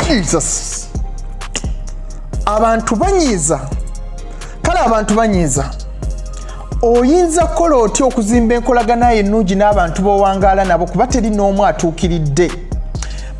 jesus abantu banyiiza kale abantu banyiiza oyinza kukola otya okuzimba enkolaganayo ennungi n'abantu b'owangaala nabo kuba teri n'omu atuukiridde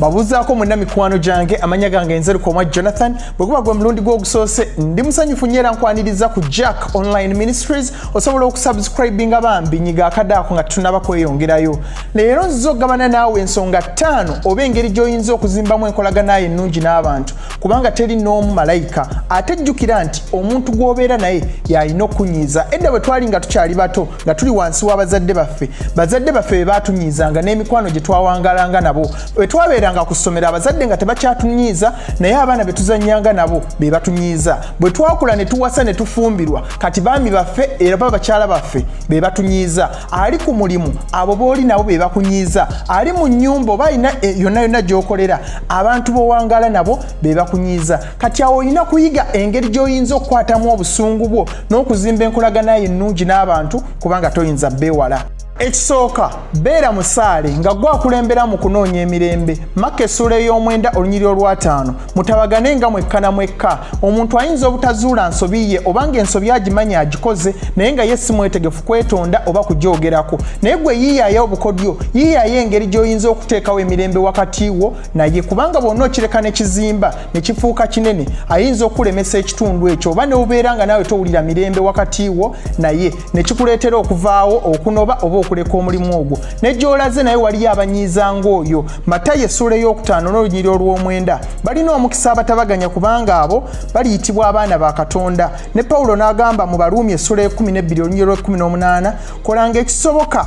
babuzaako mwena mikwano gyange amanya gange nzeruka omwa jonathan bwe guba gwe mulundi gw'ogusoose ndi musanyufu nyo era nkwaniriza ku jack online ministries osobola okusubscribinga bambi nyiga akadaako nga tutunaba kweyongerayo leero nziza okugabana naawe ensonga ttaano oba engeri gy'oyinza okuzimbamu enkolaganayo ennungi n'abantu kubanga teri n'omu malayika ate jjukira nti omuntu gw'obeera naye y'alina okukunyiiza edda bwe twali nga tukyali bato nga tuli wansi w'abazadde baffe bazadde baffe be baatunyiizanga n'emikwano gye twawangalanga nabo bwe twabeeranga ku ssomero abazadde nga tebakyatunyiiza naye abaana be tuzannyanga nabo be batunyiiza bwe twakula ne tuwasa ne tufumbirwa kati baami baffe era ba bakyala baffe be batunyiiza ali ku mulimu abo booli nabo be bakunyiiza ali mu nnyumba oba alina eh, yonna yonna gy'okolera abantu b'owangaala nabo be bakunyiiza kati awo olina kuyiga engeri gy'oyinza okukwatamu obusungu bwo n'okuzimba enkolagana ye ennungi n'abantu kubanga toyinza beewala ekisooka beera musaale nga gwakulembera mu kunoonya emirembe makka essuula ey'omwenda olunyiri olwataano mutabagane nga mwekka na mwekka omuntu ayinza obutazuula nsobi ye oba nga ensobi agimanya agikoze naye nga ye si mwetegefu kwetonda oba kugyogerako naye gwe yiyaaya obukodyo yiyaaya engeri gy'oyinza okuteekawo emirembe wakati wo naye kubanga bwonna okireka ne kizimba ne kifuuka kinene ayinza okukulemesa ekitundu ekyo oba ne ubeera nga naawe towulira mirembe wakati wo naye ne kikuleetera okuvaawo okunoba oba okuleka omulimu ogwo ne gy'olaze naye waliyo abanyiiza ng'oyo matayo essuula ey'okutaano n'olunyiri olw'omwenda balina omukisa abatabaganya kubanga abo baliyitibwa abaana ba katonda ne pawulo n'agamba mu baruumi essuula ekumi n'ebbiri olunyiri lw'ekumi n'omunaana kolanga ekisoboka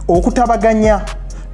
okutabaganya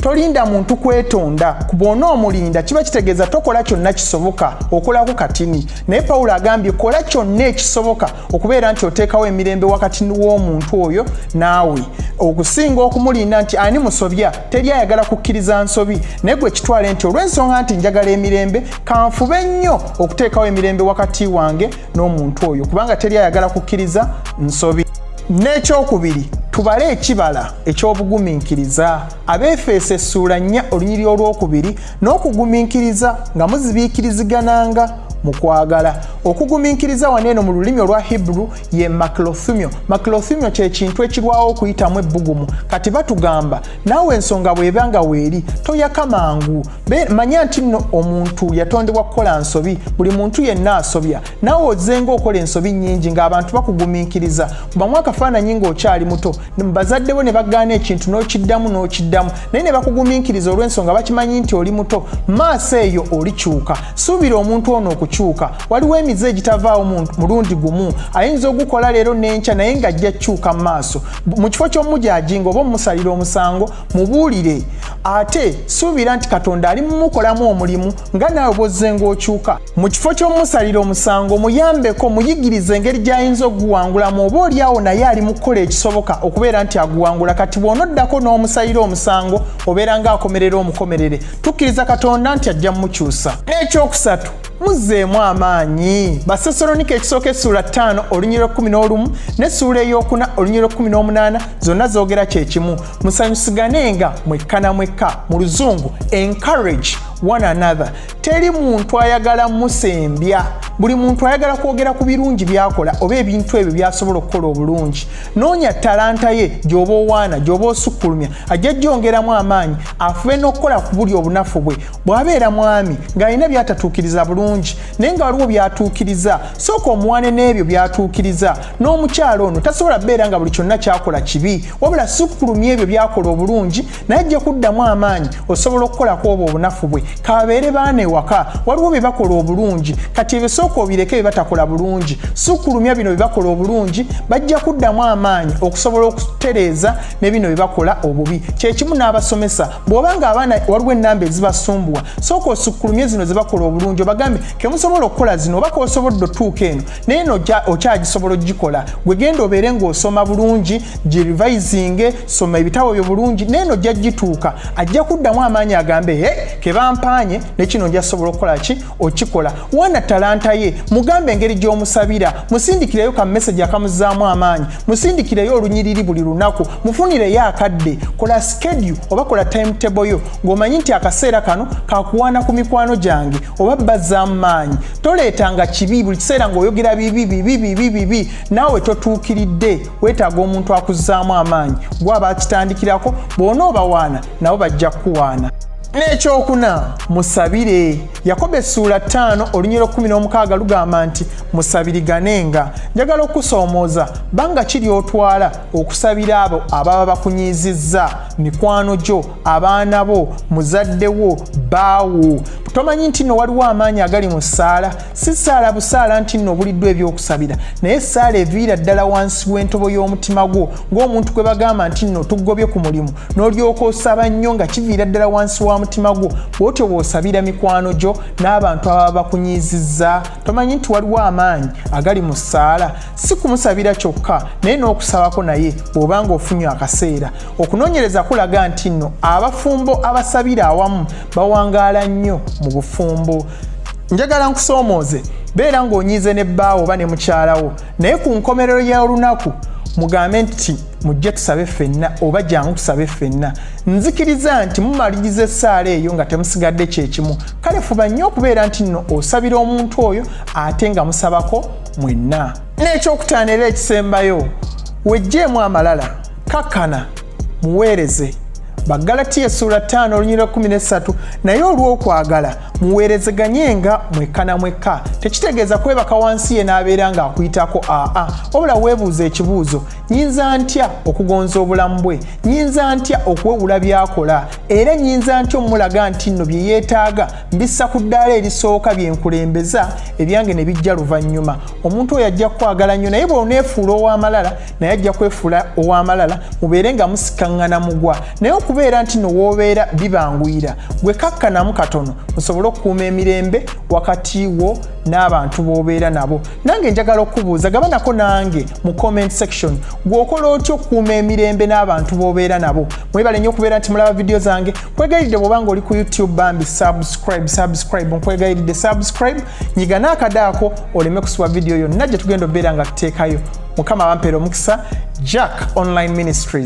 tolinda muntu kwetonda kubona omulinda kiba kitegeeza tokola kyonna kisoboka okolako katini naye pawulo agambye kola kyonna ekisoboka okubeera nti oteekawo emirembe wakati w'omuntu oyo naawe okusinga okumulinda nti ani musobya teri ayagala kukkiriza nsobi naye gwe kitwale nti olw'ensonga nti njagala emirembe kanfube nnyo okuteekawo emirembe wakati wange n'omuntu oyo kubanga teri ayagala kukkiriza nsobi n'ekyokubiri tubale ekibala eky'obugumiikiriza abeefeesa essuula nnya olunyiri olw'okubiri n'okugumiikiriza nga muzibiikirizigananga mu kwagala okugumiikiriza wano eno mu lulimi olwa hebrew ye maclothumio maclothumio kye kintu ekirwawo okuyitamu ebbugumu kati batugamba naawe ensonga bw'eba nga weeri toyaka mangu manya nti nno omuntu yatondebwa kukola nsobi buli muntu yenna asobya naawe ozenga okola ensobi nnyingi ng'abantu bakugumiikiriza kubamu akafaananyi ng'okyali muto bazadde bo ne bagaana ekintu n'okiddamu n'okiddamu naye ne bakugumiikiriza olw'ensonga bakimanyi nti oli muto maaso eyo olikyuka suubira omuntu ono okukyuka waliwo emize egitavaawo mulundi gumu ayinza ogukola leero n'enkya naye ng'ajja kukyuka mu maaso mu kifo ky'omujajinga oba omusalira omusango mubuulire ate suubira nti katonda ali mumukolamu omulimu nga naawe bwozzenga okyuka mu kifo ky'omumusalira omusango muyambeko muyigiriza engeri gy'ayinza okuguwangulamu oba olyawo naye ali mu kukola ekisoboka okubeera nti aguwangula kati bw'onoddako n'omusalira omusango obeera ng'akomerera omukomerere tukkiriza katonda nti ajja mumukyusa n'ekyokusatu muzzeemu amaanyi basesalonika ekisooka essuula ttaano olunyira ekkumi n'olumu n'essuula eyokuna olunyira ekkumi n'omunaana zonna zoogera kye kimu musanyusiganenga mwekka na mwekka mu luzungu encourage one another teri muntu ayagala musembya buli muntu ayagala kwogera ku birungi byakola oba ebintu ebyo byasobola okukola obulungi noonya talanta ye gyoba owaana gyoba osukkulumya ajja jyongeramu amaanyi afube n'okukola ku buli obunafu bwe bw'abeera mwami ng'alina byatatuukiriza bulungi naye nga waliwo byatuukiriza sooka omuwane n'ebyo byatuukiriza n'omukyalo ono tasobola beera nga buli kyonna kyakola kibi wabula sukkulumya ebyo byakola obulungi naye ajja kuddamu amaanyi osobola okukola ku obwo obunafu bwe kababeere baana ewaka waliwo bye bakola obulungi kati ebisooka obireke bye batakola bulungi sukulumya bino bye bakola obulungi bajja kuddamu amaanyi okusobola okutereeza ne bino bye bakola obubi kyekimu n'abasomesa bw'oba nga abaana waliwo ennamba ezibasumbuwa sooka osukulumye zino ze bakola obulungi obagambe kemusobola okukola zino oba kosobodde otuuka eno naye no okyagisobola ogikola gwegenda obeere ngaosoma bulungi girivisinge soma ebitabo byo bulungi naye no ojja gituuka ajja kuddamu amaanyi agambe he kebampaanye nekino nja sobola okukola ki okikola wana talanta ye mugambe engeri gyomusabira musindikireyo ka message akamuzaamu amaanyi musindikireyo olunyiriri buli lunaku mufunireyo akadde kola skedule oba kola timetable yo ng'omanyi nti akaseera kano kakuwaana ku mikwano gyange oba bazzaamu maanyi toleetanga kibi buli kiseera ng'oyogera bibi bibi bibi bibi naawe totuukiridde weetaaga omuntu akuzzaamu amaanyi gwaba akitandikirako bwona obawaana nabo bajja kukuwaana n'ekyokuna musabire yakobo essuula 5 olunyiro 16 lugamba nti musabiriganenga njagala okusoomooza banga kiri otwala okusabira abo ababa bakunyiizizza mikwano gyo abaana bo muzadde wo baawo tomanyi nti no waliwo amaanyi agali mu ssaala si ssaala busaala nti no obuliddwa ebyokusabira naye essaala eviira ddala wansi w'entobo y'omutima gwo ng'omuntu gwe bagamba nti no tugobye ku mulimu n'olyoka osaba nnyo nga kiviira ddala wansi wa mutima gwo bw'otyo bw'osabira mikwano gyo n'abantu ababa bakunyiizizza tomanyi nti waliwo amaanyi agali mu ssaala si kumusabira kyokka naye n'okusabako naye bw'oba ng'ofunye akaseera okunoonyereza kulaga nti nno abafumbo abasabira awamu bawangaala nnyo mu bufumbo njagala nkusoomooze beera ng'onyiize ne bbaawo oba ne mukyalawo naye ku nkomerero y'olunaku mugambe nti mujje tusabe ffenna oba jangu tusabe ffenna nzikiriza nti mumaliriza essaala eyo nga temusigadde kyekimu kale fuba nnyo okubeera nti nno osabira omuntu oyo ate nga musabako mwenna n'ekyokutaano era ekisembayo wejjeemu amalala kakkana muweereze bagalatiya essuula 5 olunyira 13 naye olw'okwagala muweerezeganye nga mwekka na mwekka tekitegeeza kwebaka wansi ye n'abeera ng'akuyitako aa wabula weebuuza ekibuuzo nyinza ntya okugonza obulamu bwe nyinza ntya okuwewula by'akola era nyinza ntya omulaga nti nno bye yeetaaga mbissa ku ddaala erisooka bye nkulembeza ebyange ne bijja luvannyuma omuntu oyo ajja kukwagala nnyo naye bw'oneefuula ow'amalala naye ajja kwefuula ow'amalala mubeere nga musikaŋŋana mugwa naye okubeera nti nowoobeera bibanguyira gwe kakkanamu katono musobole okukuuma emirembe wakati wo n'abantu b'obeera nabo nange njagala okubuuza gaba nako nange mu comment section gweokola otya okukuuma emirembe n'abantu b'obeera nabo mwebale nnyo okubeera nti mulaba vidiyo zange nkwegayiridde bwoba nga oli ku youtube bambi subscribe subscribe nkwegayiridde subscribe nyiga naakade ako oleme kusiba vidiyo yonna gye tugenda obeera nga tuteekayo mukama abampera omukisa jack online ministries